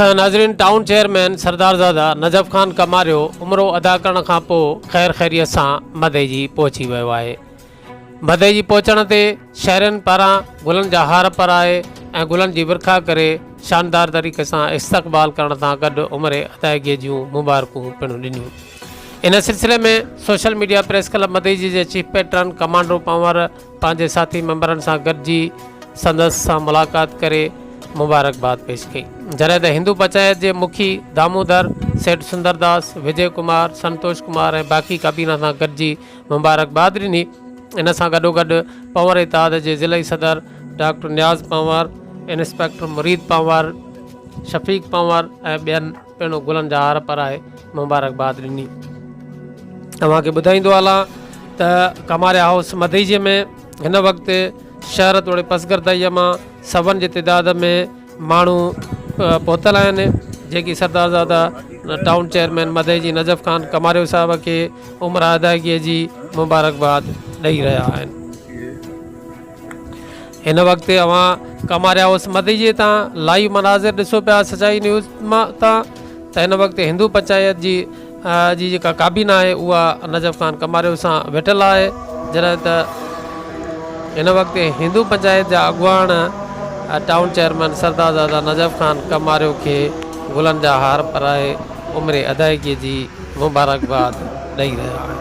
خير ناظرين town chairman Sardarzada Najaf Khan Kumario عمرو ادا ڪرڻ کان پوء خير خيريت سان مدئجي پهچي ويو آهي مدئجي پهچڻ تي شهرين پاران گلن جا هار پرائي ۽ گلن جي ورکا ڪري شاندار طريقي سان استقبال ڪرڻ سان گڏ عمري ادائگي جون مبارڪون پڻ ڏنيون ان سلسلي ۾ سوشل ميڊيا پريس ڪلب مدئجي جي چيف پيٽرن ڪمانڊرو پنور پنهنجي ساٿي ميمبرن سان گڏجي سندس سان ملاقات ڪري مبارڪباد پيش ڪئي جڏهن ته هندو پچايت جي مکي دامودر سيٺ سندرداس وجي ڪمار سنتوش ڪمار ۽ باقي ڪابينا سان گڏجي مبارڪباد ڏني ان سان گڏوگڏ پنور اتحاد جي ضلعي صدر ڊاڪٽر نياز پنور انسپيڪٽر مريد پنور شفيق پنور ۽ ٻين پڻ گلن جا هار پرائي مبارڪباد ڏني. اوهان کي ٻڌائيندو هلان ته ڪماريا هائوس مدئجي ۾ هن وقت شهر توڙي پسگردائيء مان سون جي تعداد ۾ ماڻهو پهتل آهن جيڪي سردارزاده ٽائون چيئرمين مدئجي نجف خان ڪماريو صاحب کي عمره ادائگيء جي مبارڪباد ڏئي رهيا آهن. هن وقت اوهان ڪماريا هائوس مديجي تان لائيو مناظر ڏسو پيا سچائي نيوز تان ته هن وقت هندو پنچائت جي جي جيڪا ڪابينا آهي اها نجف خان ڪماريو سان ويٺل آهي جڏهن ته هن وقت هندو پنچائت جا اڳواڻ ٽائون چيئرمين سردارزاده نجف خان ڪماريو کي گلن جا هار پرائي عمر ادائيگي جي مبارڪباد ڏئي رهيا آهن